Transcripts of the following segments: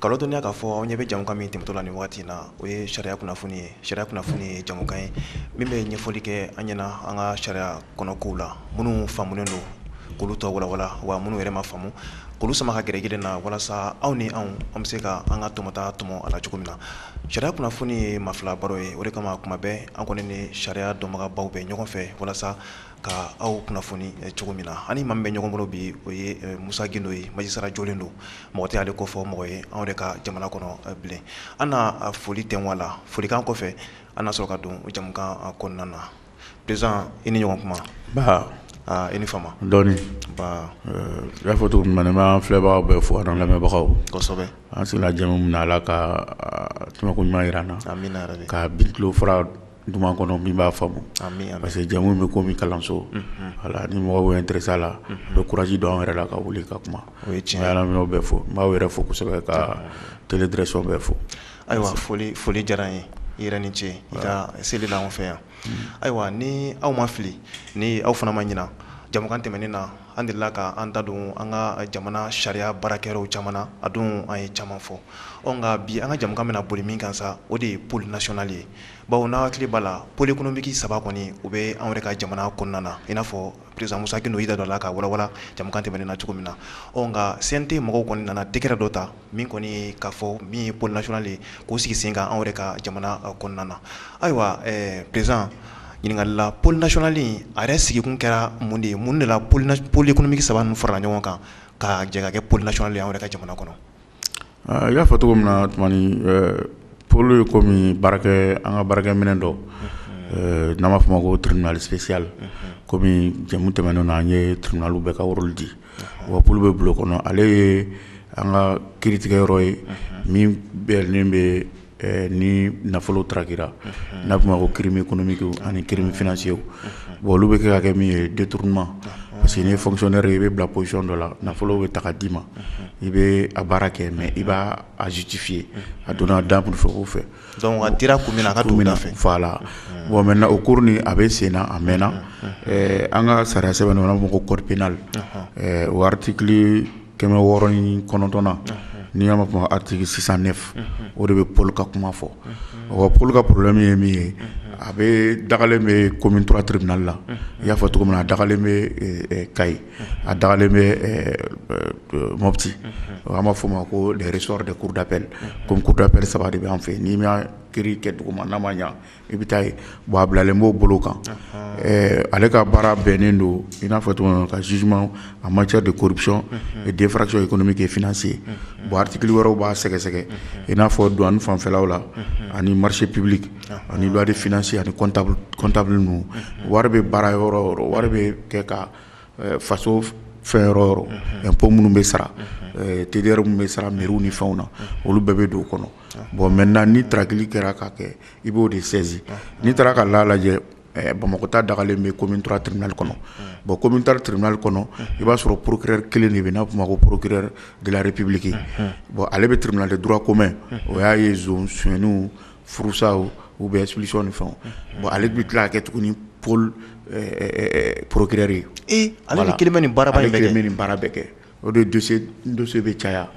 k'aw ladɔnniya k'a fɔ aw ɲɛ bɛ jamukan min tɛmɛtɔ la nin waati in na o ye sariya kunnafoni ye sariya kunnafoni ye jamukan ye min bɛ ɲɛfɔli kɛ an ɲɛna an ka sariya kɔnɔ kow la minnu faamulen don k'olu tɔ walawala wa minnu yɛrɛ ma faamu k'olu sama ka gɛrɛ gɛrɛ na walasa aw ni anw an bɛ se ka an ka tɔmɔta tɔmɔ a la cogo min na sariya kunnafoni ye maa fila baro ye o de kama kuma bɛɛ an kɔni ni sariya dɔnbagabaw bɛ ɲɔgɔn fɛ walasa ka aw kunnafoni eh, cogo min na an ni maa min bɛ ɲɔgɔn bolo bi o ye eh, musa gindo ye majisara jɔlen don mɔgɔ tɛ ale kofɔ mɔgɔ ye anw de ka jamana kɔnɔ eh, bilen an na foli tɛ wa la folikan kɔfɛ an na sɔrɔ ka don jamukan kɔnɔna na président i ni ɲɔgɔn kuma nba i ni fama dɔɔni i y'a fɔ cogo min na n b'an filɛbagaw bɛɛ fo an lamɛnbagaw kosɛbɛ an sigila jamu min na ala ka tɛmɛko ɲuman jira an na ka bin tulo fara duman kɔnɔ min b'a faamu parce que jamu bɛ komi kalanso voilà ni mɔgɔ intéressé a la a bɛ kuraji don an yɛrɛ la ka wuli ka kuma o ye tiɲɛ yɛrɛ bɛɛ fo n b'aw yɛrɛ fo kosɛbɛ ka télé direction bɛɛ fo ayiwa foli diyara an ye i yɛrɛ ni ce i ka seli la an fɛ yan ayiwa ni aw ma fili ni aw fana ma ɲina jamukan tɛmɛnen na an delila ka an da don an ka jamana sariya baarakɛyɔrɔw caman na a don an ye caman fɔ nka bi an ka jamukan bɛna boli min kan sa o de ye pôle national ye Bawo n'a hakili b'a la pôle économique saba kɔni u bɛ anw yɛrɛ ka jamana kɔnɔna na i n'a fɔ président musa gindo y'i da don a la k'a walawala jamukan tɛmɛnen na cogo min na ɔ nka CNT mɔgɔw kɔni nana décret dɔ ta min kɔni k'a fɔ min ye pôle national ye k'o sigi sen kan anw yɛrɛ ka jamana kɔnɔna na ayiwa président ɲininkali la pôle national in a yɛrɛ sigikun kɛra mun de ye mun de la pôle économique saba ninnu farala ɲɔgɔn kan ka jɛ ka kɛ pôle national ye an yɛrɛ ka jamana kɔnɔ I y'a fɔ cogo min na tumani pôle ye komi baarakɛ an ka baarakɛminɛn dɔ n'an b'a fɔ a ma ko tribunal spécial kɔmi jamu tɛmɛnen na an ye tribunal bɛɛ ka rôle di wa pôle bɛ bulon kɔnɔ ale ye an ka kiiritigɛyɔrɔ ye min bɛnnen bɛ ni nafolo taarara n'a tun ma ko kiirimi kɔnɔmi ani kiirimi fsiye bon olu bɛ kɛ ka kɛ min ye dentr ma parce que fsɔnɛ i bɛ bila psiyɔn dɔ la nafolo bɛ taga d'i ma i bɛ a baara kɛ mɛ i b'aztifi ye a donna da fɛ o fɛ dɔnkuc kun min a ka min fɛ fa la bon mɛ o ko a bɛ sen a mɛnna an ka sariya sɛbɛn ma ko ko kɔrɔɔripina wari kɛmɛ wɔɔrɔɔrɔn kɔnɔntɔn na n'i y'a fɔ atiki sisan ne o de bɛ pauloli ka kuma fɔ o pauloli ka poro min ye min ye a bɛ dagalen bɛ ko minturaurubinali la i y'a fɔ cogo min na a dagalen bɛ ka a dagalen bɛ moti an b'a f' ma ko sɔrɔ de kurudapre ko kudaɛri saba de bɛ' fɛ n'i ki kɛ dugu ma n'a ma ɲɛ i bɛ taa yen bon a bilalen b'o bolo kan ale ka baara bɛnnen don i n'a fɔ tuma ka zusu a ma cɛ de koɔricɔn denfasi ye kɔnɔmi kɛ fse ye bon ati wɛrɛ b'a sɛgɛsɛgɛ i n'a fɔ don an fanfɛlaw la ani marisi pebili ani wari fse ani kɔntabili ninnu wari bɛ baara yɔrɔ wari bɛ kɛ ka faso fɛn yɔrɔ ko minnu bɛ sara teri minnu bɛ sara miw ni fɛnw na olu bɛɛ bɛ don o kɔnɔ bon mɛ na ni taaraki kɛra ka kɛ i b'o de sɛsin n'i taara ka la lajɛ bamakɔta dagalen bɛ kɔmi tora tiriinali kɔnɔ bɔn kɔmi taara tiriinali kɔnɔ i b'a sɔrɔ porourkɛ kelen de bɛ n'a tun ma ko porourkɛ dre ppiliki bɔn ale bɛ tiriinali dɔrɔn komɛ o y'a ye sonw furusa u bɛ ssi ni fɛn bɔn ale bɛ tila kɛ tuguni ni pauloli porourkɛ ale ni kelen ni bara kɛ ni baara bɛɛ kɛ o de dossier bɛ caya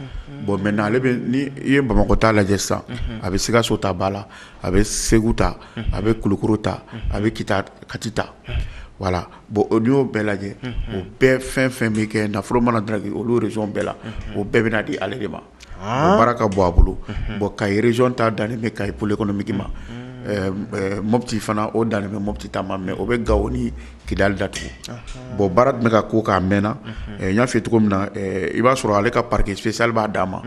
bon maintenant ale bɛ ni i ye bamakɔ ta lajɛ sisan a bɛ sikaso ta ba la a bɛ segu ta a bɛ kulukoro ta a bɛ ki kati ta voilà bon n'i y'o bɛɛ lajɛ o bɛɛ fɛn fɛn bɛ kɛ nafolo mana draguer olu région bɛɛ la o bɛɛ bɛna di ale de ma baara ka bon a bolo bon kayi région ta dan bɛ kayi pôle économique ma mɔti fana o dan bɛ mɔti ta ma mais o bɛ gao ni kidali datugu bon baara tun bɛ ka ko k'a mɛnna n y'a f'i ye cogo min na i b'a sɔrɔ ale ka parquet spécial b'a danma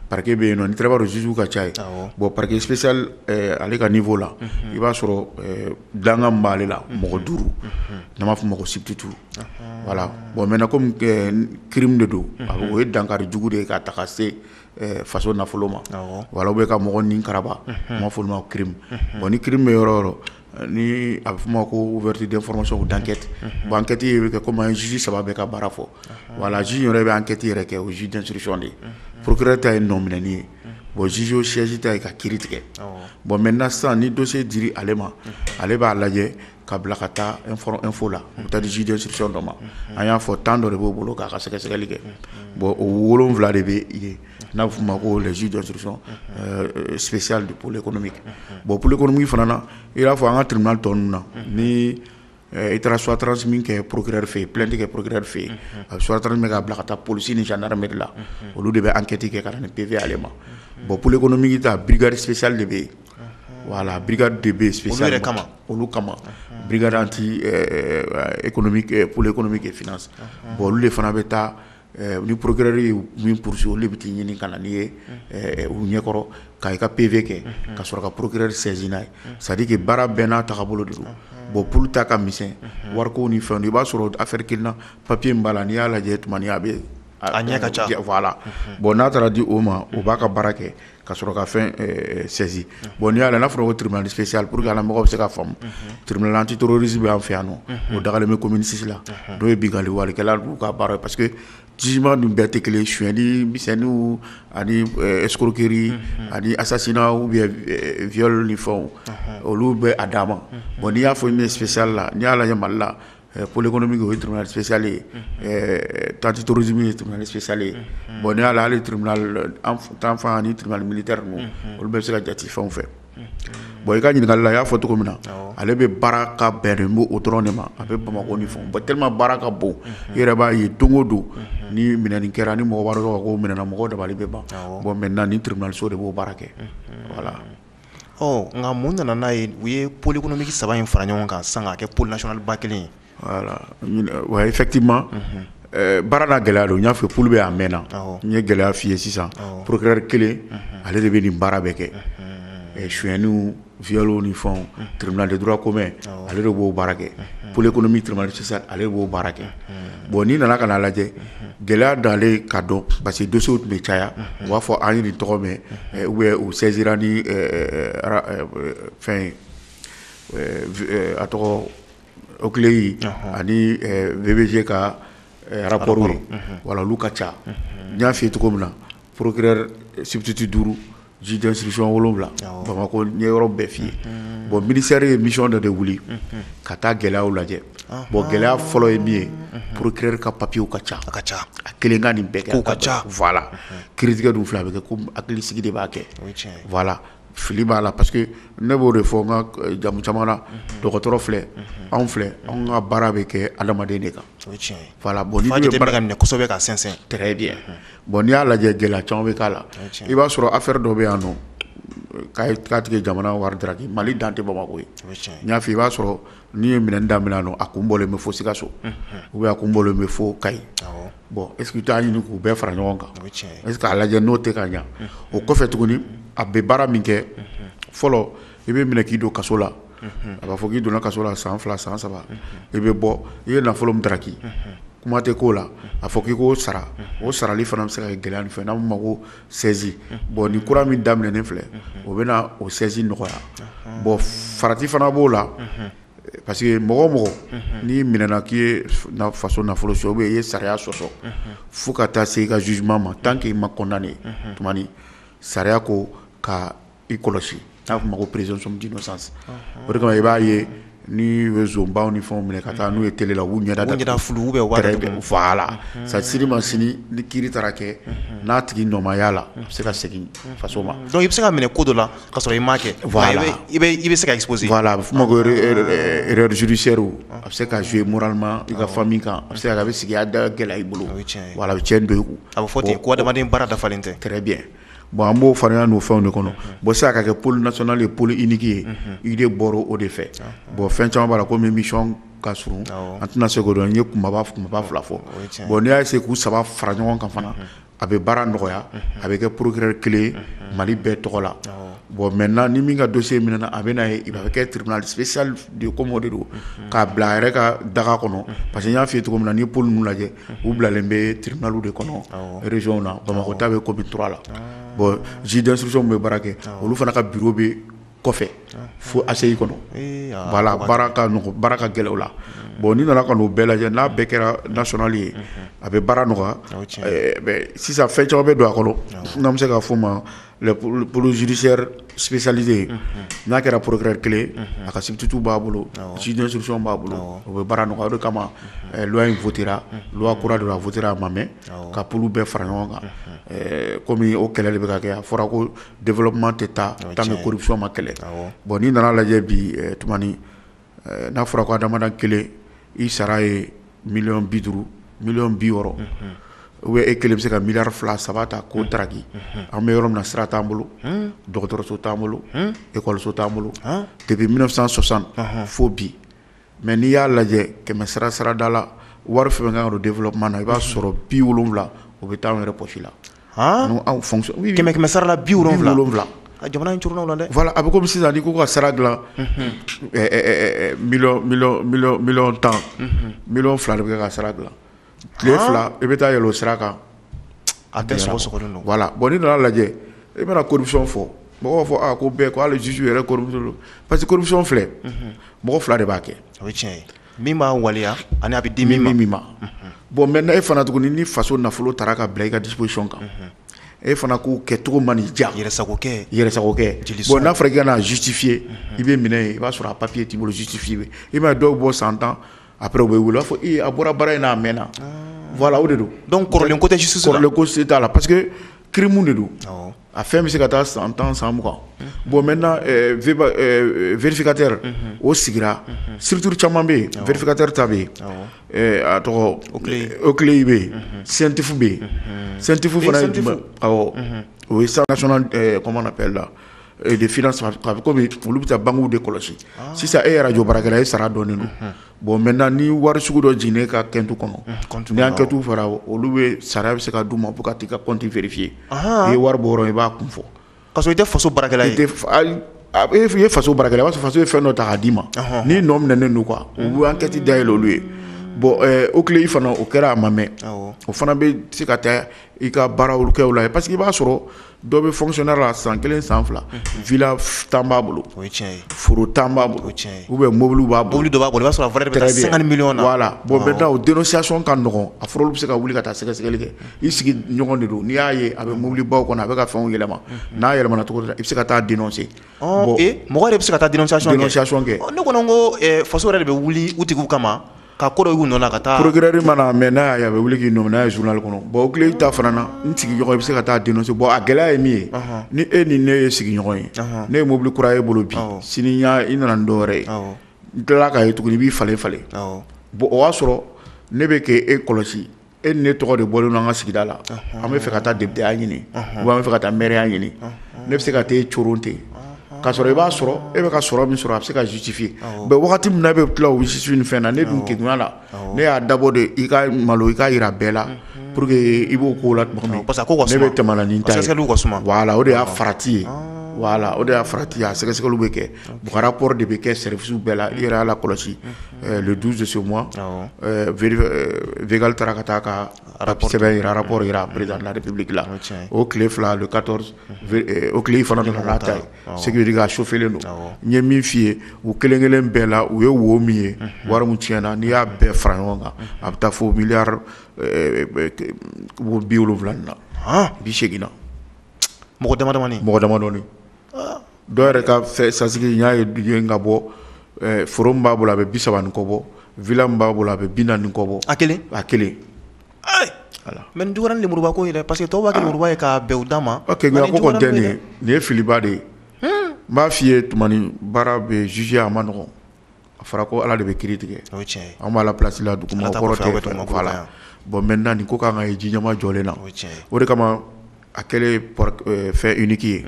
parquet bɛ yen nɔn tirabaru juge ka ca yen bon parquet spécial ale ka niveau la i b'a sɔrɔ dankan b'ale la mɔgɔ duuru n'a b'a fɔ ma ko substitut wala bon mɛ ko kiri de don o ye dankari jugu de ye ka taga se faso nafolo ma wala bɛ ka mɔgɔ ni kara ma fɔ ma ki bɔn ni kiri bɛ yɔrɔ yɔrɔ ni a bɛ f' ma ko vti den fɔlɔsɔn dankɛti bankɛti bɛ kɛ kɔmi sisi saba bɛ ka baara fɔ wala z yɛrɛ bɛ an kɛti yɛrɛ kɛ o z danurusicɔn de ye purkɛ ta ye nɔ minɛen ye bon zzo sɛjita ye ka ki tigɛ bɔn mɛ na sisan ni donso di ale ma ale b'a lajɛ ka bila ka taa efo la u taa sidi dɔ ma a y'a fɔ tan dɔ de b'o bolo k'a ka sɛgɛsɛgɛli kɛ bon o wolon wolonwula de bɛ yen n'a tun ma ko lajɛsi dɔ sososiyali de bolola kɔnɔ min kɛ bon bolola kɔnɔmi fana na i y'a fɔ an ka tun tɔn ninnu na ni i taara sutataransiri min kɛ poroɛre fɛ yen plɛti kɛ poroɛre fɛ yen a suta min k'a bila ka taa polisi ni jandarɛri la olu de bɛ ankɛti kɛ ka nin perepiye ale ma bon bolola kɔnɔmi ta birikariri sososili de bɛ yen wala bi de bɛ su yɛrɛ kama olu kama bi tɛoli kɔnɔmi kɛ f bɔn olu de fana bɛ taa ni porourkɛ min psi olu bɛ taa ɲini ka na' ye u ɲɛkɔrɔ ka i ka pepfe kɛ ka sɔrɔ ka porourkɛ sinina ye sadike baara bɛn n'a ta bolo de don bon p ta ka misɛn wari ko ni fɛn i b'a sɔrɔ a fɛrike na papiye b'a la n'i y'a lajɛ a bɛ a ɲɛ ka ca la bɔn n'a taara di o ma o b'a ka baara kɛ ka sɔrɔ ka fɛn saisir bon n'i y'a la n'a fɔra ko tribunal spécial pour que a la mɔgɔw bɛ se ka faamu tribunal antiterroriste bɛ an fɛ yan nɔ o dagalen bɛ commune six la n'o ye binkanni walekɛla dun ka baara ye parce que jugement dun bɛɛ tɛ kelen suyɛnni misɛnninw ani escroquerie ani assassinat ou bien viol ni fɛnw olu bɛ a dama bon n'i y'a fɔ min ye spécial la n'i y'a lajɛ Mali la Poli kɔnɔ bɛ o ye trsisali ye tati torisi ye trsisali ye bon ne y'ale ale tanfan ni tma mili olu bɛ se ka jate fɛnw fɛ bon i ka ɲininkakala a y'a fɔ cogo min na ale bɛ baara ka bɛn n o dɔrɔn de ma a bɛ bamakɔ ni fɔ balima baara ka bon i yɛrɛ b'a ye don o don ni minɛn kɛra ni mɔgɔ wɛrɛ minɛɛna mɔgɔ da bɛ ban bɔn mɛ na ni tiriso de b'o baara kɛ wala Ɔ nka mun nana n'a ye u ye pkɔnɔmi saba in fara ɲɔgɔn kan san kɛ plasiba kelen wa fɛti ma baarada gɛlɛya don n y'a fɛ olu bɛ' mɛn na n ye gɛlɛya f'i ye sisan porokyri kelen ale de bɛ nin baara bɛɛ kɛ suyni vyw ni fɔ tiriinaliura ko mɛn ale de b'o baara kɛ poli kɔnɔmi tiriinali sisan ale b'o baara kɛ bon n'i nana ka'a lajɛ gɛlɛya don ale ka dɔn parce que dossier tun bɛ caya u b'a fɔ an ye nin tɔgɔ mɛn ou bien u saisira ni fɛn a tɔgɔ OCLEI ani BVG ka rapport ye voilà olu ka ca n y'a f'i ye cogo min na procureur substitut duuru juge d'instruction wolonwula Bamakɔ n ye yɔrɔ bɛɛ f'i ye bon ministère ye mission dɔ de wuli ka taa gɛlɛyaw lajɛ bon gɛlɛya fɔlɔ ye min ye procureur ka papierw ka ca ka ca a kelen ka nin bɛɛ kɛ ka ca voilà kiiritigɛ dun filɛ a bɛ kɛ ko hakilisigi de b'a kɛ voilà fili b'a la parce que ne b'o de fɔ n ka jɛmu caman na dɔgɔtɔrɔ filɛ anw filɛ an ka baara bɛ kɛ adamaden de kan bon ka minɛ kosɛbɛ ka sɛnsɛn de Bon n'i y'a lajɛ gɛlɛya caman bɛ k'a la, o tiɲɛn, i b'a sɔrɔ affaire dɔ bɛ yan nɔ k'a tigi ye jamana wari daraki Mali dan tɛ Bamakɔ ye, o ye tiɲɛn ye, n y'a fɔ i ye, i b'a sɔrɔ n'u ye minɛni daminɛ yan nɔ a kun bɔlen bɛ fɔ Sikaso, unhun, ou bien a kun bɔlen bɛ fɔ Kayi, awɔ, bon est ce que i t'a ɲini k'u bɛɛ fara ɲɔgɔn kan, o ye tiɲɛn ye, est ce que k'a lajɛ n'o tɛ ka ɲɛ, o kɔfɛ tuguni a bɛ baara min kɛ, unhun, fɔlɔ i bɛ minɛ k'i don kaso la a b'a fɔ k'i donna kaso la san fila san saba i bɛ bɔ i ye nafolo min daraki kuma tɛ k'o la a fɔ k'i k'o sara o sarali fana bɛ se ka kɛ gɛlɛya fɛn n'a ma ko saisie bon nin kura min daminɛnen filɛ o bɛ na o saisie nɔgɔya bon farati fana b'o la parce que mɔgɔ o mɔgɔ n'i minɛna k'i ye faso nafolo sonya ou bien i ye sariya sɔsɔ fo ka taa se i ka jugement ma tant qu'i ma condamné tuma sariya ko ka i kɔlɔsi n'a fɔ ma ko présomption d'innocence o de kama i b'a ye ni bɛ zonbaw ni fɛnw minɛ ka taa n'u ye télé la u ɲɛda da bɛ voilà sa sini ma sini ni kiiri taara kɛ n'a tigi nɔ ma y'a la a bɛ se ka segin faso ma donc i bɛ se ka minɛ ko dɔ la ka sɔrɔ i m'a kɛ i bɛ se ka exposer voilà a bɛ f'o ma ko erreur judiciaire a bɛ se ka jouer moralement i ka famille kan a bɛ se a bɛ sigida gɛlɛya i bolo a bɛ tiɲɛ donc a bɛ fɔ ten ko adamaden baara dafalen tɛ kɛlɛ bɛ Bon an b'o farinya n'o fɛnw de kɔnɔ bon sisan ka kɛ pôle national ye pôle unique ye idée bɔra o de fɛ bon fɛn caman b'a la comme mission ka surun an tɛna se k'o dɔn n ye kunbaba fila fɔ bon n'i y'a essayer k'u saba fara ɲɔgɔn kan fana a bɛ baara nɔgɔya a bɛ kɛ procureur kelen ye Mali bɛɛ tɔgɔ la bon maintenant ni min ka dossier minɛna a bɛ na yen a bɛ kɛ tribunal spécial de ye comme o de don k'a bila a yɛrɛ ka daga kɔnɔ parce que n y'a f'i ye cogo min na n'i ye pôle ninnu lajɛ u bilalen bɛ tribunal de kɔnɔ régionw na bamakɔ ta bɛ commune trois la bon juge d'instruction bɛ baara kɛ olu fana ka bureau bɛ kɔfɛ fo ACI kɔnɔ voilà baara ka nɔgɔ baara ka gɛlɛn o la bon n'i nana ka n'o bɛɛ lajɛ n'a bɛɛ kɛra national ye a bɛ baara nɔgɔya sisan fɛn caman bɛ don a kɔnɔ n'an bɛ se k'a fɔ ma puruzsɛrisalize n'a kɛra poroɛre kelen a ka sibitutu b'a bolo sidi s b'a bolo o bɛ baara nɔgɔ kama lwa in ftira kura don a fɔt a ma mɛ ka p bɛɛ fara ɲɔgɔn kan kɔmi o kɛlɛ de bɛ kɛ a fɔra ko denma tɛ taa tan kosɔnma kɛlɛ bɔn n'i nana lajɛ bi n'a fɔra ko adamaden kelen i sara ye million bi duuru million bi wɔɔrɔ ou e kelen bɛ se ka milliard fila saba ta k'o daraki an bɛ yɔrɔ min na sira t'an bolo dɔgɔtɔrɔso t'an bolo ekɔliso t'an bolo depuis mille neuf cent soixante fo bi mais n'i y'a lajɛ kɛmɛ sarada la wari fɛn min ka kan ka don développement na i b'a sɔrɔ bi wolonwula o bɛ taa an yɛrɛ poche la kɛmɛ kɛmɛ sarala bi wolonwula wolonwula a jamana c la dɛ a bɛ sisan k'u ka sara dila tan mi fila de bɛ ka sara dila tile fila i bɛ taa yɛlɛ o sira kan a tɛ bɔn ne nana lajɛ i bɛna kosa fɔ mɔgɔw fɔ ko bɛɛ k' ale jisu yɛrɛ parce quemisɔn filɛ mɔgɔ fila de b'a kɛ tiɲɛ Min b'a waleya ani a bɛ di min ma bon maintenant e fana tuguni ni faso nafolo taara ka bila i ka disposition kan e fana k'o kɛ cogo man'i diya yɛrɛsagokɛ n'a fɔra k'i ka n'a justifier i bɛ minɛ yen i b'a sɔrɔ a papier t'i bolo justifier i m'a ye dɔw bɔ san tan après u bɛ wele u b'a fɔ a bɔra baara in na a mɛnna voilà o de don donc kɔrɔlen ko tɛ justice la kɔrɔlen ko se t'a la parce kiirimu de don a fɛn bɛ se ka taa san tan san mugan bon mɛ vfinkatere o sigira sibiri caman bɛ yen vfinkatere ta bɛ yen a tɔgɔ o kile bɛ yen sentifu bɛ yen sentifu fana ye o ye san kɔman pe la de a bɛ olu bɛ taa bangew de kɔlɔsi sisan e yɛrɛ jɔ bara e sara dɔɔnin don Bon mɛ na ni wari sugu dɔ jinin ka tɛntu kɔnɔ y'a kɛtu fara olu bɛ sara bɛ se ka du ma fo ka taa i ka kɔnti feereerefin ye i ye wari bɔ i b'a kun fɔ ka i tɛ faso bara a e f' i ye faso bara b'a faso ye fɛn dɔ ta k'a d'i ma n'i nɔ minɛ n' kan u an kɛti da ye olu ye bɔn o tile i fana o kɛra a ma mɛ o fana bɛ se ka taa i ka baara kɛ la pa que i b'a sɔrɔ dɔ bɛ fonctionnaire la san kelen san fila villa tan b'a bolo foro tan b'a bolo ou bien mobili b'a bolo dɔ b'a bolo i b'a sɔrɔ valeur bɛ taa cinquante millions na voilà bon maintenant o dénonciation ka nɔgɔ a fɔra olu bɛ se ka wuli ka taa sɛgɛsɛgɛli kɛ i sigiɲɔgɔn de don n'i y'a ye a bɛ mobili baw kɔnɔ a bɛ ka fɛnw yɛlɛma n'a yɛlɛmana cogo dɔ la i bɛ se ka taa dénoncer mɔgɔ de bɛ se ka taa dénonciation kɛ ne kɔni ko faso yɛrɛ de bɛ wuli u tigiw kama ka ko dɔ y'u nɔ ka taa procureur mana a mɛn n'a y'a ye a bɛ wuli k'i nɔminɛ n'a ye journal kɔnɔ bon OCLEI ta fana na n sigiɲɔgɔn i bɛ se ka taa dénoncer bon a gɛlɛya ye min ye ni e ni ne ye sigiɲɔgɔn ye ne ye mobili kura y'i bolo bi sini i nana ni dɔwɛrɛ ye n tilala k'a ye tuguni i b'i falen falen bon o y'a sɔrɔ ne bɛ k'e kɔlɔsi e ni ne tɔgɔ de bɔlen don an ka sigida la an bɛ fɛ ka taa députéya ɲini wa an bɛ fɛ ka taa mɛriya ɲini ne bɛ se ka taa e coron ten k'a sɔrɔ i b'a sɔrɔ e bɛ ka sɔrɔ min sɔrɔ a bɛ se ka justifier mais wagati min na e bɛ tila o justifier ni fɛn na ne dun kegunya la ne y'a dabɔ de i ka malo i ka jira bɛɛ la pour que i bɔ ko la parce que ne bɛ tɛmɛ ni n ta ye o de y'a farati ye voilà o de y'a farati ye a sɛgɛsɛgɛli bɛ kɛ Buhara kɔrɔ de bɛ kɛ sɛf bɛɛ la i yɛrɛ' la kɔlɔsi dususo vgali taara ka taa ka arasɛbɛ jira ara jira aere o tile fila o tile fana ta sigin ka sofi don n ye min f' i ye u kelen kelen bɛɛ la u ye wo min ye wari min ti na n'i y'a bɛɛ fara ɲɔgɔn kan a bɛ taa fɔ mi bi wolowula na bi seginna mɔgɔ mɔgɔ dɔw yɛrɛ ka fɛ sasigi y'a ye bi ka bɔ f b'a bolo a bɛ bisa ni kɔ bɔ v b'a bolo a bɛ bi ni kɔ bɔ a kelen a kelen mɛ nin dɔgɔ niuruba ko yɛrɛ pa que tɔwbaduba ye ka bɛn uda ma nin ye filiba de ye n b'a f'i ye baara bɛ zizsi a ma nɔgɔ a fɔra ko ala de bɛ kiri tigɛ an b'ala place la dugumakolo la bon maintenant nin ko kan ka ye ji ɲɛma jɔlen na o de kama a kɛlen fɛn unique ye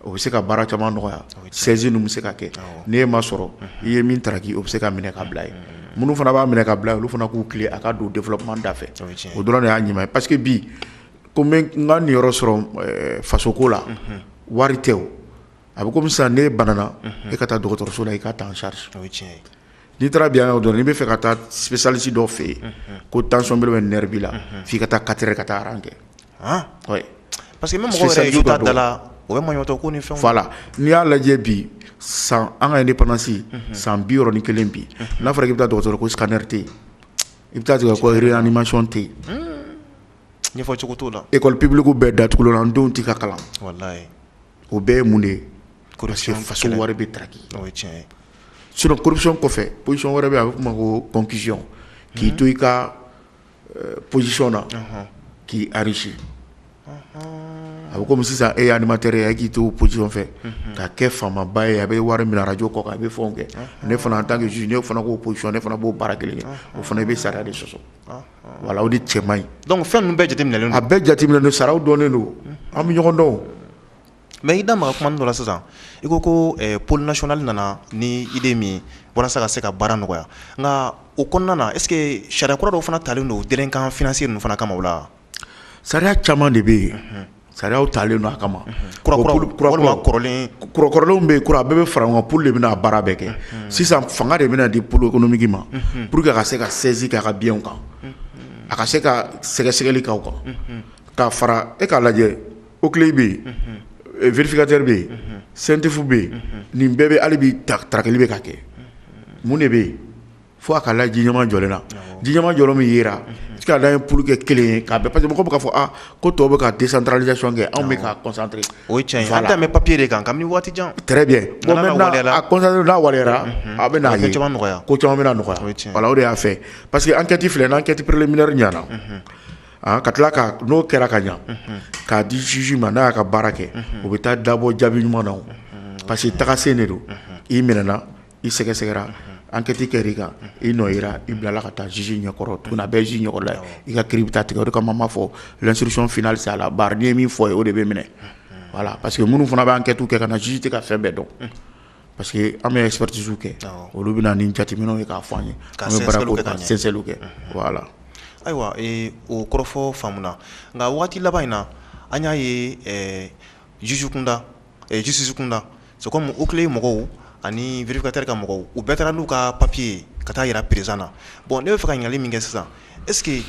o bɛ se ka baara caman nɔgɔya saisie ninnu bɛ se ka kɛ n'e yɛrɛ ma sɔrɔ i ye min taraki o bɛ se ka minɛ ka bila yen minnu fana b'a minɛ ka bila olu fana k'u tile a ka don développement da fɛ o dɔrɔn de y'a ɲuman ye parce que bi ko n ka n niyɔrɔ sɔrɔ fasoko la wari tɛ o a bɛ komi sisan n'e banana e ka taa dɔgɔtɔrɔso la i ka ta en charge n'i taara bi dɔrɔn n'i b'a fɛ ka taa spécialiste dɔ fɛ yen ko tension b'i la nerf b'i la f'i ka taa quatre heures ka taa rang kɛ parce que ma da la o bɛ matɔ ko ni fɛnw voilà n'i y'a lajɛ bi san an ka indépendance san bi wɔɔrɔ ni kelen bi n'a fɔra i bɛ taa dɔgɔtɔrɔ ko scanner tɛ yen i bɛ taa sɔrɔ réanimation tɛ yen ɲɛfɔcogo t'o la école publique bɛɛ datugulen an denw tɛ ka kalan o bɛɛ ye mun de ye kɔlɔsi faso wɛrɛ bɛ taki tiɲɛ sosɔn kɔfɛ psisɔn wɛrɛ bɛ a bɛ kuma ko pɔnpsi k'i to i ka psisɔn na k'i arisi a bɛ kɔmi sisan e alimatɛɛrɛ yan k'i to psisɔn fɛ ka kɛ faamaba ye a bɛ wari min araj kɔ a bɛ fɔ kɛ ne fana an tan kɛ ne fana ko psisɔn ne fana b'o baara kelen kɛ o fana i bɛ sariya de sɔsɔ voilà o de cɛ man ɲi donc fɛn ninnu bɛɛ jateminɛlen don a bɛɛ jateminɛlen don saraw dɔnnen don an bɛ ɲɔgɔn dɔn mais i da maga kuma dɔ la sisan i ko ko eh, pôle national nana ni idée min ye walasa ka se ka baara nɔgɔya nka o kɔnɔna na est ce que sariya kura dɔw fana talen don délinquant financier ninnu fana kama o la sariya caman de bɛ yen Sariyaw talen don a kama kɔrɔlenw bɛ yen kura a bɛɛ bɛ fara pôle de bɛna a baara bɛɛ kɛ sisan fanga de bɛna di pôle économique ma pour que a ka se ka saisie k'aw ka bienw kan a ka se ka sɛgɛsɛgɛli k'aw kan ka fara e k'a lajɛ OCLEI bɛ yen vérificateur bɛ yen CENTIF bɛ yen nin bɛɛ bɛ yen hali bi tarakili bɛ ka kɛ mun de bɛ yen fo a ka lajɛ ji ɲɛma jɔlen na ji ɲɛma jɔlen min yera i ka da ye pour que kelen ye k'a bɛɛ parce que mɔgɔw bɛ k'a fɔ ko tɔw bɛ ka décentralisation kɛ anw bɛ ka concentrer o ye tiɲɛ ye a bɛ papier de kan kabini waati jan n'a waleyara a bɛ n'a ye ko caman bɛ nɔgɔya o de y'a fɛ parce que enquête filɛ n'enquête préliminaire ɲɛna ka tila ka n'o kɛra ka ɲɛ k'a di juge ma n'a y'a ka baara kɛ o bɛ taa dabɔ jaabi ɲuman na parce que tagasen de don i minɛna i sɛgɛsɛgɛra enquête kɛra i kan i nɔ yera i bilala ka taa juge ɲɛkɔrɔ a bɛ juge ɲɛkɔrɔ la i ka kiri bɛ taa tigɛ o de kama an b'a fɔ l'instruction finale c'est à la barre n'i ye min fɔ yen o de bɛ minɛ voilà parce que minnu fana bɛ enquête kɛ ka na juge tɛ ka fɛn bɛɛ dɔn parce que an bɛ expertise kɛ olu bɛ na ni jateminɛw ye k'a fɔ an ye ka sɛnsɛnli kɛ voilà ayiwa o kɔrɔfɔ faamuna nka waati laban in na an y'a ye jugew kunda jisisi kun da so u tile mɔgɔw ani vkatɛ ka mɔgɔw u bɛɛ taara n'u ka papiye ka taa jira perez na bɔn ne bɛ fɛ ka ɲali min kɛ sisan eseke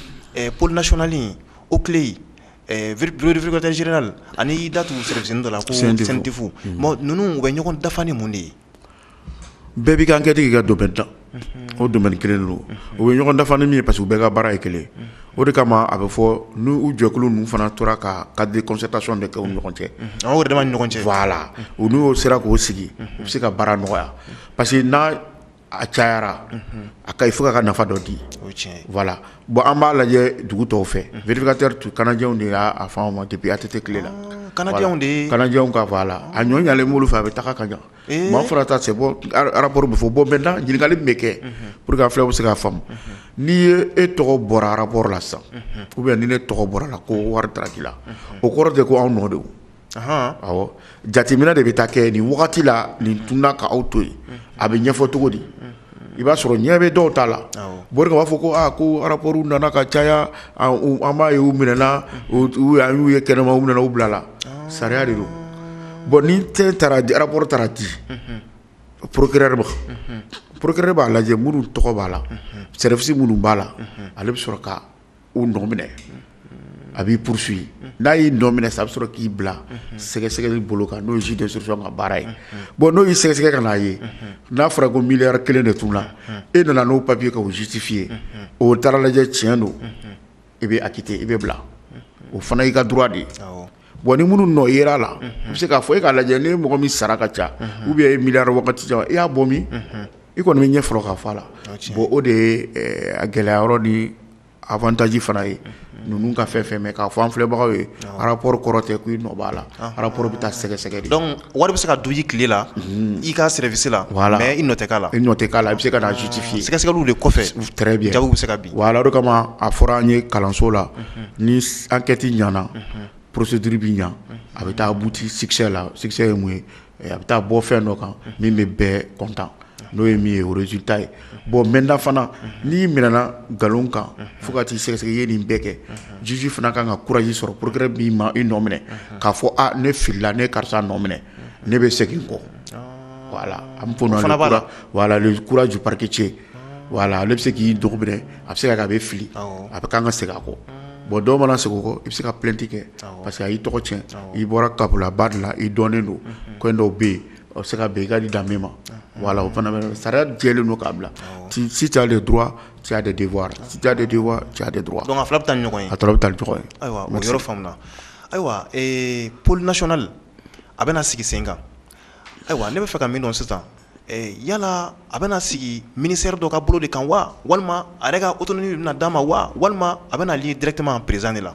pnasionali o tile vvkatɛ zre la ani y'i da tun sirifisin dɔ la ko sintifu ninnu bɛ ɲɔgɔn dafa ni mun de ye bɛɛ b'i ka enquête kɛ k'i ka domaine na, unhun, o domaine kelen de don, u bɛ ɲɔgɔn dafa ni min ye parce que u bɛɛ ka baara ye kelen ye, o de kama a bɛ fɔ n'u jɛkulu ninnu fana tora ka cadre de concertation de kɛ u ni ɲɔgɔn cɛ, unhun, u yɛrɛdama ni ɲɔgɔn cɛ, voilà u n'u sera k'o sigi u bɛ se ka baara nɔgɔya parce que n'a a cayara, unhun, a kaɲi fo k'a ka nafa dɔ di, o ye tiɲɛ ye, voilà bon an b'a lajɛ dugu tɔw fɛ vérificateur tun kanajɛw de y'a fɔ anw ma depuis ATT tile la, ɔɔ, kanajɛw de ye, kanajɛw ka voilà a ɲɔ ɲɛnen b'olu fɛ a bɛ taga ka ɲa maa fɔra ta se arabu bɛ fɔ bɔ bɛ da ɲininkakali bɛ kɛ p walasaur fula bɛ se k' faamu n'i ye e tɔgɔ bɔra arabu la sa u bɛ ni ne tɔgɔ bɔra la ko wari k'i la o kɔrɔ de ko anw nɔ de jateminɛ de bɛ taa kɛ nin wagati la nin tun kaaw to yen a bɛ ɲɛfɔ cogo di i b'a sɔrɔ ɲɛ bɛ dɔw ta la mori b'a fɔ ko aa ko rapport nana ka caya an b'a ye u minɛna an y'u ye kɛnɛma u minɛna u bilala sariya de don bon ni tɛ taara di rapport taara di procureur ma procureur b'a lajɛ minnu tɔgɔ b'a la service minnu b'a la ale bɛ sɔrɔ ka u nɔ minɛ a b'i poursuivre n'a y'i nɔ minɛ sa a bɛ sɔrɔ k'i bila sɛgɛsɛgɛli bolo kan n'o ye juge d'instruction ka baara ye bon n'o y'i sɛgɛsɛgɛ ka n'a ye n'a fɔra ko miliyari kelen de tunna e nana n'o papier k'o justifier o taara lajɛ tiɲɛ don i bɛ acquitté i bɛ bila o fana y'i ka droit de ye Bon ni minnu nɔ yera a la u bɛ se k'a fɔ e k'a lajɛ ni mɔgɔ min sara ka ca ou bien miliyari wagati caman i y'a bɔ min i kɔni bɛ ɲɛ fɔlɔ k'a fɔ a la bon o de ye a gɛlɛya yɔrɔ ni avantage fana ye ninnu ka fɛn fɛn mɛ k'a fɔ an filɛbagaw ye rapport kɔrɔ tɛ ko i nɔ b'a la rapport bɛ taa sɛgɛsɛgɛ wari bɛ se ka du i tile la i ka sɛsi la i nɔ tɛ la i ɲɔ tɛ la i bɛ se ka sutifin sɛgɛsɛgɛli de kɔfɛ bɛ se ka wala kama a fɔra an ye kalanso la ni an kɛti ɲana porosi duuruuru bɛ ɲɛ a bɛ taa butisɛ la ye mun ye a bɛ taa bɔ fɛn dɔ kan min bɛ bɛɛ kɔntan n'o ye min ye o résultat ye bon maintenant fana n'i minɛna nkalon kan fo ka t'i sɛgɛsɛgɛ i ye nin bɛɛ kɛ juge fana ka kan ka courage sɔrɔ procureur b'i ma i nɔ minɛ k'a fɔ ne filila ne ye karisa nɔ minɛ ne bɛ segin kɔ voilà le courage du parquetier voilà ale bɛ se k'i dugu minɛ a bɛ se ka kɛ a bɛ fili a bɛ kan ka segin a kɔ bon dɔw mana segin kɔ i bɛ se ka plainte kɛ parce que a y'i tɔgɔ tiɲɛ i bɔra kabilaba dɔ la i dɔnnen don ko dɔw bɛ yen O bɛ se ka bɛn i ka di danbe ma voilà o fana sariya la jɛlen don k'a bila si tu as des droits tu as des devoirs si tu as des devoirs tu as des droits donc a fila bɛ taa ni ɲɔgɔn ye a bɛ taa ni ɲɔgɔn ye ayiwa o yɔrɔ faamuna ayiwa pôle national a bɛna sigi sen kan ayiwa ne bɛ fɛ ka min dɔn sisan yala a bɛna sigi ministère dɔ ka bolo de kan wa walima a yɛrɛ ka autonomie bɛna d'a ma wa walima a bɛna lié directement présidence de la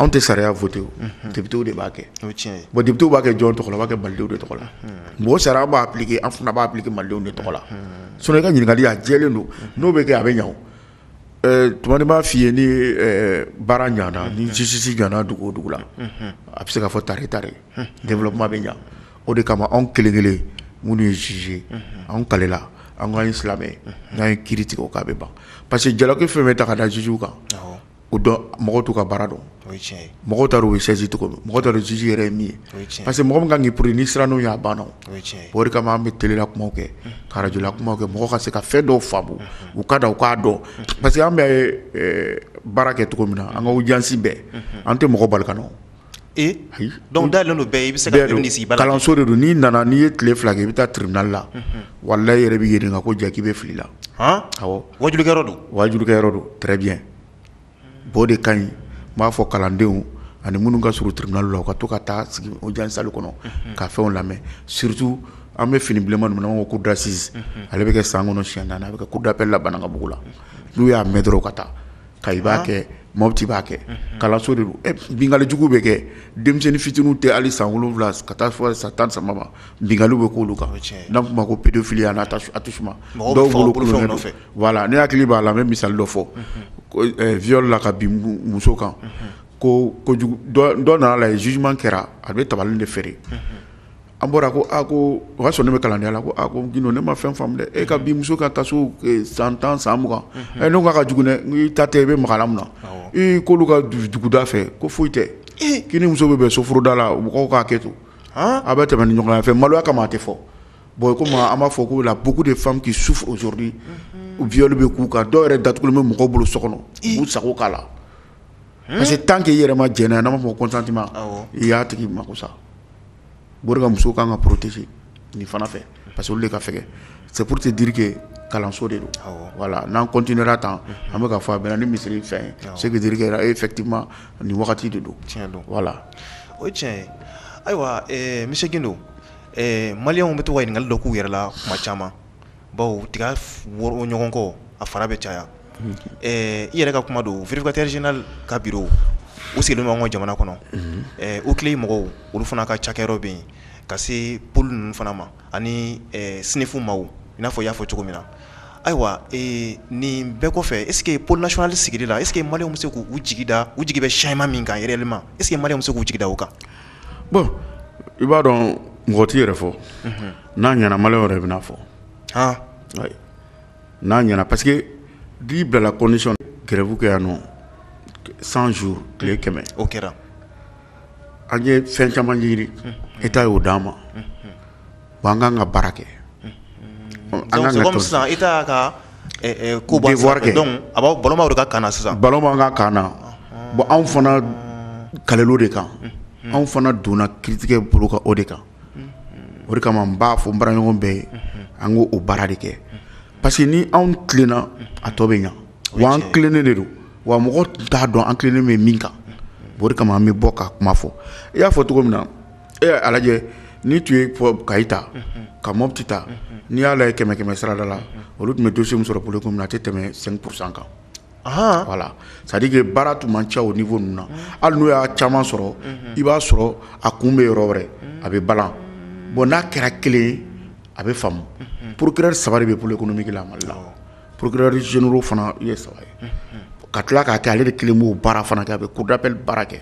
anw tɛ sariya voter députéw de b'a kɛ député b'a kɛ jɔn tɔgɔ la a b'a kɛ malidenw de tɔgɔ la magistrat b'a appliquer an fana b'a appliquer malidenw de tɔgɔ la sinon i ka ɲininkali a jɛlen don n'o bɛ kɛ a bɛ ɲa o tuma n b'a f'i ye ni baara ɲana ni justice ɲana dugu o dugu la a bɛ se ka fɔ tari ta développement bɛ ɲa o de kama anw kelen kelen minnu ye juge anw kalela an ka silamɛ n'an ye kiri tigɛ k'a bɛ ban parce que jalaki fɛn bɛ ta ka da jugew kan o dɔn mɔgɔ t'u ka baara dɔn o ye tiɲɛ ye mɔgɔw t'a dɔn u bɛ saisi cogo min mɔgɔw t'a dɔn juge yɛrɛ ye min ye o ye tiɲɛ ye parce que mɔgɔ min ka kan k'i pourri n'i siranna o ɲɛ a banna o o ye tiɲɛ ye o de kama an bɛ télé la kumaw kɛ unhun ka radio la kumaw kɛ mɔgɔ ka se ka fɛn dɔw faamu unhun u ka na u k'a dɔn unhun parce que an bɛ ɛɛ baara kɛ cogo min na an ka audience bɛɛ unhun an tɛ mɔgɔ bali ka na o ee donc dalen don bɛɛ i bɛ se ka minɛ sigi kalanso de don n'i nana n'i ye tile fila kɛ i bɛ taa tribunal la walahi i yɛrɛ b'i ɲininka ko ja k'i bɛ fili la awɔ wajulikɛyɔrɔ don wajulikɛyɔrɔ don très bien bon o de ka ɲi n b'a fɔ kalandenw ani minnu ka surun tribunal la u ka to ka taa sigi audience salle kɔnɔ ka fɛnw lamɛn surtout an bɛ fini bilenman ninnu na n'an b'a fɔ ko cour d'assises ale bɛ kɛ san kɔnɔ siɲɛ naani a bɛ kɛ cour d'appel la Banankabugu la n'u y'a mɛn dɔrɔn u ka taa Kayi b'a kɛ Mɔti b'a kɛ kalanso de don binkali jugu bɛ kɛ denmisɛnnin fitininw tɛ hali san wolonwula ka taa fɔ san tan ni saba ma binkali bɛ k'olu kan n'an kuma ko pédophilie ani attouchement voilà ne hakili b'a la n bɛ misali dɔ fɔ viol la ka bin muso kan ko kojugu dɔ nana la jugement kɛra a bɛ tabali de feere an bɔra ko a ko o y'a sɔrɔ ne bɛ kalandenya la ko ko Gindo ne ma fɛn faamu e ka bin muso ka taa san tan san mugan ne k'a ka jugu n'i ta tɛ i bɛ maga a la mun na k'olu ka duguda fɛ ko foyi tɛ k'i ni muso bɛ bɛn sofuruda la mɔgɔw k'a kɛ to a bɛ tɛmɛ ni ɲɔgɔn fɛ maloya kama a tɛ fɔ bon comme an b'a fɔ ko il y a beaucoup de femmes qui souffrent aujourd'hui viol bɛ k'u kan dɔw yɛrɛ datugulen bɛ mɔgɔw bolo so kɔnɔ k'u sago k'a la parce que tant que i yɛrɛ ma jɛnɛ n'a fɔ consenti i y'a tigi mako sa ka muso ka kan ka porotese nin fana fɛ parce de ka fɛ seuru tɛ dike kalanso de don wala n'an kɔnt tan an bɛka ka fɔ a bɛ ni misiri fɛn ye se dike e fɛti ma ni wagati de don don wala o tiɲɛ ayiwa misido maliw bɛ to ɲininkakali dɔ k'u yɛrɛ la kuma caman baw tiga woro ɲɔgɔn kɔ a fara bɛ caya i yɛrɛ ka kuma don vkatiriina ka bi u sigi ɲɔgɔn ka jamana kɔnɔ u tile mɔgɔw olu fana ka cakɛ bɛ yen ka se p ninnu fana ma ani sinfo ma n'a fɔ y'a fɔ cogo min na ayiwa nin bɛɛ kɔfɛ e plasli sigi la e mali bɛ se k' jigida u jigi bɛ sima min kan yɛrɛli ma e mali bɛ se k' jigida u kan bon i b'a dɔn mɔgɔ t'i yɛrɛ fɔ n'a ɲɛna maliyɛnw yɛrɛ bɛn'a fɔ n'a ɲɛna parce que n'i bilala condition grève kɛ yan nɔ cent jours tile kɛmɛ o kɛra an ye fɛn caman ɲini État y'o d'an ma an kan ka baara kɛ sisan État ka ko kɛ a ballon b'an ka camp na sisan ballon b'an ka camp na bon anw fana kalila o de kan anw fana donna kiiritigɛ bolo kan o de kan o de kama n b'a fɔ n baara ɲɔgɔn bɛɛ ye an k'o baara de kɛ parce que ni anw tilenna a tɔ bɛ ɲa wa an tilennen de don wa mɔgɔ t'a dɔn an tilennen bɛ min kan o de kama an bɛ bɔ ka kuma fɔ i y'a fɔ cogo min na a lajɛ ni tun ye kayi ta ka mopti ta n'i y'a lajɛ kɛmɛ kɛmɛ sarada la olu tun bɛ dossier min sɔrɔ pôle min na a tɛ tɛmɛ cinq pour cent kan voilà c'est-à-dire que baara tun man ca au niveau ninnu na hali n'u y'a caman sɔrɔ i b'a sɔrɔ a kun bɛ yɔrɔ wɛrɛ a bɛ balan bon n'a kɛra kelen a bɛ faamu procureur saba de bɛ pôle économique la mali la procureur généraux fana ye saba ye ka tila k'a kɛ ale de kelen b'o baara fana kɛ a bɛ cour d'appel baara kɛ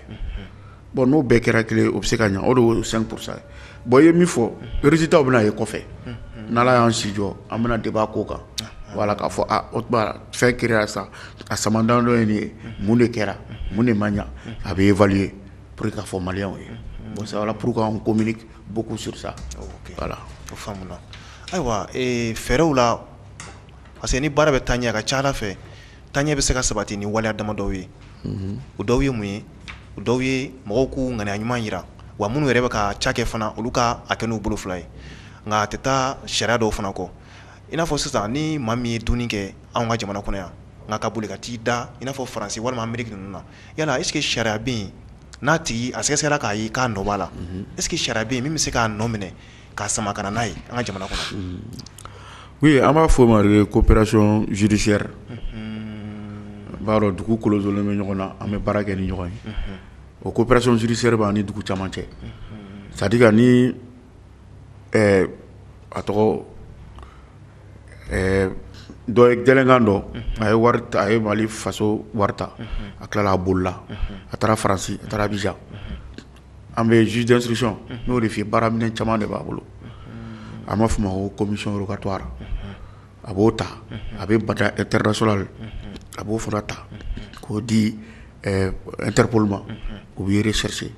bon n'o bɛɛ kɛra kelen o bɛ se ka ɲɛ o de c'est pour ça bon i ye min fɔ résultat bɛna ye kɔfɛ n'ala y'an si jɔ an bɛna débat k'o kan voilà k'a fɔ o fɛn kɛra sa a san damadɔ ye nin ye mun de kɛra mun de ma ɲa a bɛ évaluer pour k'a fɔ maliyɛnw ye bon c'est pourquoi on communique beaucoup sur ça voilà o faamuna ayiwa fɛɛrɛw la parce que ni baara bɛ taa ɲɛ a ka ca la fɛ taa ɲɛ bɛ se ka sabati ni waleya damadɔw ye o dɔw ye mun ye o dɔw ye mɔgɔw k'u ŋaniya ɲuman yira wa minnu yɛrɛ bɛ ka ca kɛ fana olu ka a kɛ n'u bolo fila ye nka a tɛ taa sariya dɔw fana kɔ i n'a fɔ sisan ni maa min ye dunni kɛ anw ka jamana kɔnɔ yan nka ka boli ka t'i da i n'a fɔ faransi walima ameriki ninnu na yala est-ce que sariya bɛ yen n'a tigi a sɛgɛsɛgɛra k'a ye k'a nɔ b'a la est-ce que sariya bɛ yen min bɛ se k'a nɔ minɛ k'a sama ka na n'a ye an ka jamana kɔnɔ oui an b'a fɔ o ma de coopération judiciaire i b'a dɔn dugu kolonsolen bɛ ɲɔgɔn na an bɛ baara kɛ ni ɲɔgɔn ye o coopération judiciaire b'an ni dugu caman cɛ c'est-à-dire que ni a tɔgɔ dɔ gɛlɛnkan dɔ a ye a ye mali faso wari ta a tilala a bolila a taara faransi a taara bi an bɛ juge d'instruction n'o de baara minɛn caman de b'a bolo a b'a fɔ o ma ko commission rogatoire a b'o ta a bɛ mandat international a b'o fana ta k'o di Interpol ma u b'i rechercher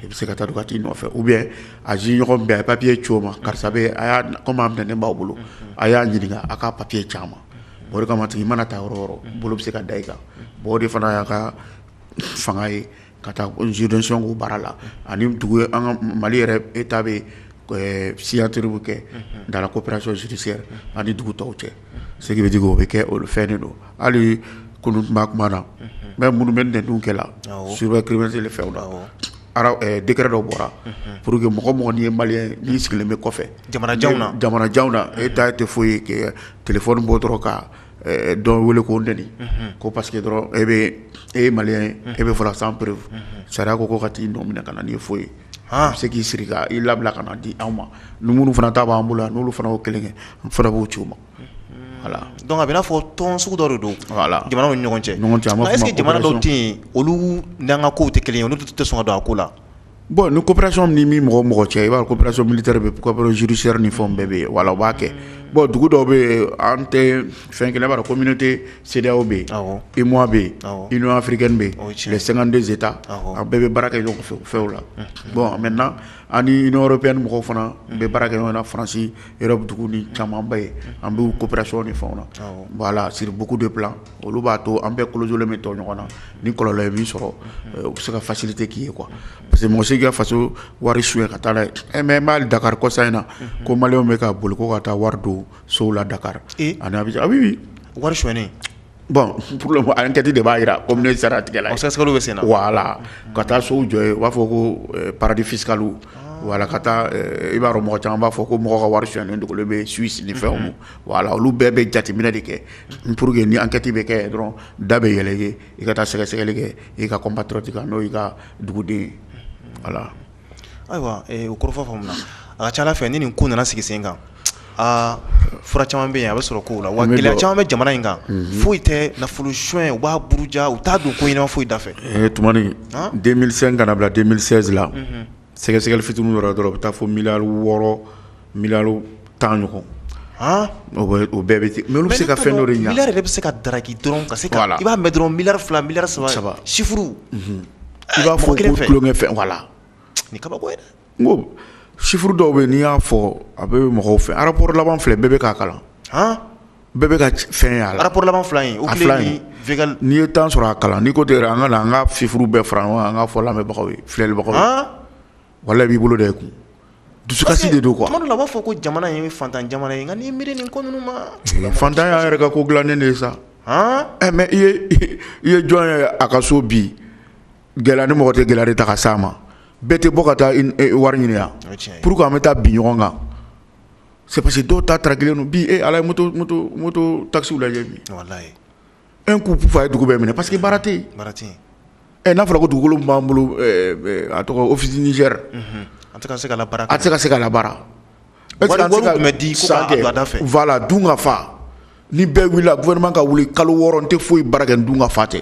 i bɛ se ka taa ka t'i nɔfɛ ou bien a juge ɲɔgɔn bɛ yen a papiye ci o ma karisa kɔmi a minɛnen b'aw bolo a y'a ɲininka a ka papiye ci an ma o de kama i mana taa yɔrɔ o yɔrɔ bolo bɛ se ka da i kan o de fana y'a ka fanga ye ka taa zydcko baara la ani dugu an ka mali yɛrɛ e ta bɛ siyatiriuru kɛ da ko pɛracosise ani dugu tɔw cɛ seg bɛ o bɛ kɛ olu fɛn de don hali kulu tun kuma na mɛ minnu bɛ nt dun kɛ la su bɛ kiirimatili fɛ dra dɔ bɔra pur que mɔgɔ mɔgɔɔgɔn ye mali n sigilen bɛ kɔfɛ jamanajan na jamanajan na e ta tɛ foyi ye ke tfɔ bɔ dɔrɔn kan dɔw wele k'u nɛni ko parce que dɔrɔn e bɛ e maliyɛn e bɛ fɔ la sans preuve sariya ko ko ka t'i nɔ minɛ ka na n'i ye fo yen a bɛ se k'i siri k'i labila ka na di anw ma ni minnu fana ta b'an bolo yan n'olu fana y'o kelen kɛ an fana b'o ci o ma voilà donc a bɛ n'a fɔ tɔn sugu dɔ de don jamana ni ɲɔgɔn cɛ nka est-ce que jamana dɔw tɛ yen olu n'an ka ko tɛ kelen ye olu tɛ sɔn ka don a ko la bɔn ni kopɛrasɔn ni min mɔgɔ mɔgɔ cɛ i b'a kopɛrasɔ mili de bɛ kopɛr zurusiɛ ni fɛn bɛɛ bɛ yen wala b'a kɛ bɔn dugu dɔw bɛ yen an tɛ fɛn kelen b'a ko mini tɛ seerew bɛ yen i mɔ bɛ yen i ɲɔgɔnɔn afirike bɛ yen tile sanganden bɛ taa an bɛɛ bɛ baara kɛ ɲɔgɔn fɛ fɛw la bɔn mɛ na an ni bɛ ni mɔgɔ fana n bɛ baara kɛ ɲɔgɔn farasi yɔrɔ dugu ni camanba ye an bɛ kopɛrasɔn ni fɛn na wala siri buku de bila olu b'a to an bɛɛ kolojolen bɛ to ɲɔgɔn na ni kɔlɔlɔ ye min sɔrɔ u bɛ se ka faciliter k'i ye quoi parce que mɔgɔ si ka faso wari sonya ka taa mais n b'a lakali kɔsa in na ko maliyɛnw bɛ ka boli ko ka taa wari don sow la dakari ani abijan oui wari sonyalen bɔn pour le moment ankɛti de b'a jira ko sariya tigɛla sɛgɛsɛgɛliw bɛ sen na voilà ka taa sow jɔ yen u b'a fɔ ko paradis fiscal voilà ka taa i b'a dɔn mɔgɔ caman b'a fɔ ko mɔgɔ ka wari sonyalen dogolen bɛ Suisse ni fɛnw voilà olu bɛɛ bɛ jateminɛ de kɛ pour que ni ankɛti bɛ kɛ dɔrɔn da bɛ yɛlɛ i ye i ka taa sɛgɛsɛgɛli kɛ i ka compatriote kan n'o y'i ka duguden voilà ayiwa o kɔrɔfɔ faamuna a ka ca ala fɛ ni nin ko nana sigi sen kan aa fura caman bɛ yen a bɛ sɔrɔ kow la wa gɛlɛya caman bɛ jamana in kan foyi tɛ nafolo sonyɛ u b'a buruja u t'a don ko ɲɛnama foyi da fɛ tumani deux mille cinq ka na a bila deux mille seize la sɛgɛsɛgɛli fitinin yɔrɔ dɔrɔn u bɛ taa fo miliyari wɔɔrɔ miliyari tan ɲɔgɔn o bɛɛ bɛ ten mais o bɛ se ka fɛn dɔ ɲa miliyari yɛrɛ de bɛ se ka daki dɔrɔn ka se la i b'a mɛn dɔrɔn miliyari fila miliyari saba chiffre i b'a fɔ ko tulonkɛ fɛn voilà nin kabako n ko chiffre dɔw bɛ n'i y'a fɔ a bɛ mɔgɔw fɛ a rapport laban filɛ bɛɛ bɛ k'a kalan bɛɛ bɛ ka fɛn ye a la rapport laban fila in OCLEI ani Végal n'i ye temps sɔrɔ a kalan n'i ko ten yɛrɛ an ka na an ka chiffre bɛɛ fara ɲɔgɔn kan an ka fɔ lamɛnbagaw ye filɛlibagaw ye haan walahi i b'i bolo da i kun dusukasi de don quoi parce que tuma dɔ la u b'a fɔ ko jamana in ye faantan jamana ye nka n'i miiri nin ko ninnu ma faantan y'an yɛrɛ ka ko dilannen de ye sa haan ɛ eh, mais i ye i ye jɔn ye a ka so bi gɛlɛya ni mɔgɔ tɛ gɛlɛya de ta ka s'a ma bɛɛ tɛ bɔ ka taa eh, wari ɲini yan pour que an bɛ taa bi ɲɔgɔn kan c'est parce que dɔw ta tarakilen don bi e a lajɛ moto moto moto taxi lajɛ bi, walahi, un coup puf a ye dugu bɛɛ minɛ parce que baara tɛ yen, baara tɛ yen, ɛ n'a fɔra ko dugukolo min b'an bolo ɛ a tɔgɔ office du Niger unhun, a tɛ ka se ka labaara, a tɛ se ka se ka labaara, wari wari tun bɛ di ko k'a don a da fɛ, voilà dunkafa, ni bɛɛ wulila gouvernement ka wuli kalo 6 n tɛ foyi baara kɛ ni dunkafa tɛ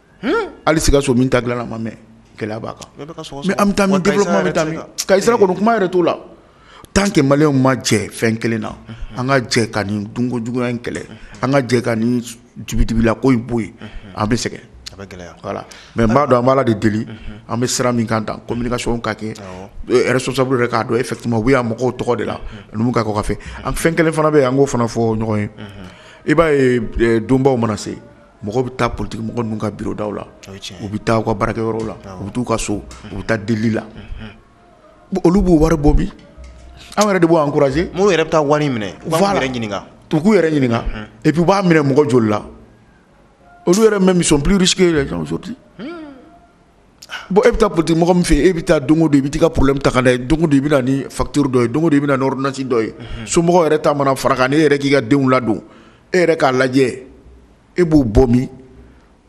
hali Sikaso min ta dilanna ma mɛn gɛlɛya b'a kan mais an bɛ taa min développement bɛ taa min Kayi sira kɔni kuma yɛrɛ t'o la tant que maliyɛnw ma jɛ fɛn kelen na an ka jɛ ka nin dunko juguya in kɛlɛ an ka jɛ ka ni dibidibila ko in bɔ yen an bɛ sɛgɛn voilà mais n b'a dɔn an b'Ala de deli an bɛ sira min kan communication ka kɛ responsable yɛrɛ k'a dɔn effectivement u bɛ yan mɔgɔw tɔgɔ de la nka kɔfɛ an fɛn kelen fana bɛ yen an k'o fana fɔ ɲɔgɔn ye i b'a ye donbaw mana se mɔgɔw bɛ taa politique mɔgɔ ninnu ka bureau daw la u bɛ taa u ka baarakɛyɔrɔ la u bɛ taa u ka so u bɛ taa deli la olu b'u wari bɔ bi an yɛrɛ de b'o encourager minnu yɛrɛ bɛ taa wari minɛ u b'u yɛrɛ ɲininka u k'u yɛrɛ ɲininka et puis u b'a minɛ mɔgɔ joli la olu yɛrɛ même ils sont plus riches que les gens aujourd'hui bon e bɛ taa politique mɔgɔ min fɛ e bɛ taa don o don i bɛ t'i ka problème ta ka na don o don i bɛ na ni facture dɔ ye don o don i bɛ na ni ordonnance dɔ ye somɔgɔw yɛrɛ ta mana fara kan e yɛrɛ k'i ka denw ladon e yɛrɛ k'a lajɛ e b'o bɔ min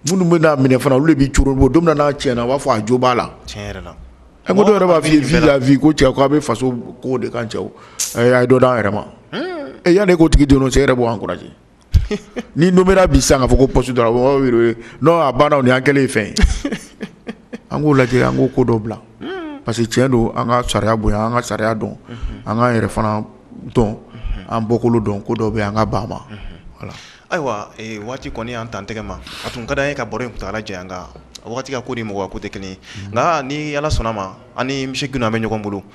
minnu bɛ n'a minɛ fana olu de b'i curu bɔ don min n'a tiɲɛna a b'a fɔ a jo b'a la a ko dɔw yɛrɛ b'a fɔ i ko cɛ k' a bɛ faso ko de kan cɛ a ye dɔ d'an yɛrɛ ma yanni e k'o tigi dɔn cɛ e yɛrɛ b'o encourager ni nomera bi sisan k'a fɔ ko poste dɔrɔn a banna ni an kɛlen ye fɛn ye an k'o lajɛ an k'o ko dɔ bila parce que tiɲɛ don an ka sariya bonya an ka sariya dɔn an k'an yɛrɛ fana dɔn an bɔkolo dɔn ko dɔ bɛ yen an ka ban ma ayiwa waati kɔni y'an tan tɛgɛ ma a tun ka d'an ye ka baro in kuntaala janya nka waati ka ko ni mɔgɔ ko tɛ kelen ye nka ni ala sɔnna ma an misi kun an bɛ ɲɔgɔn bolo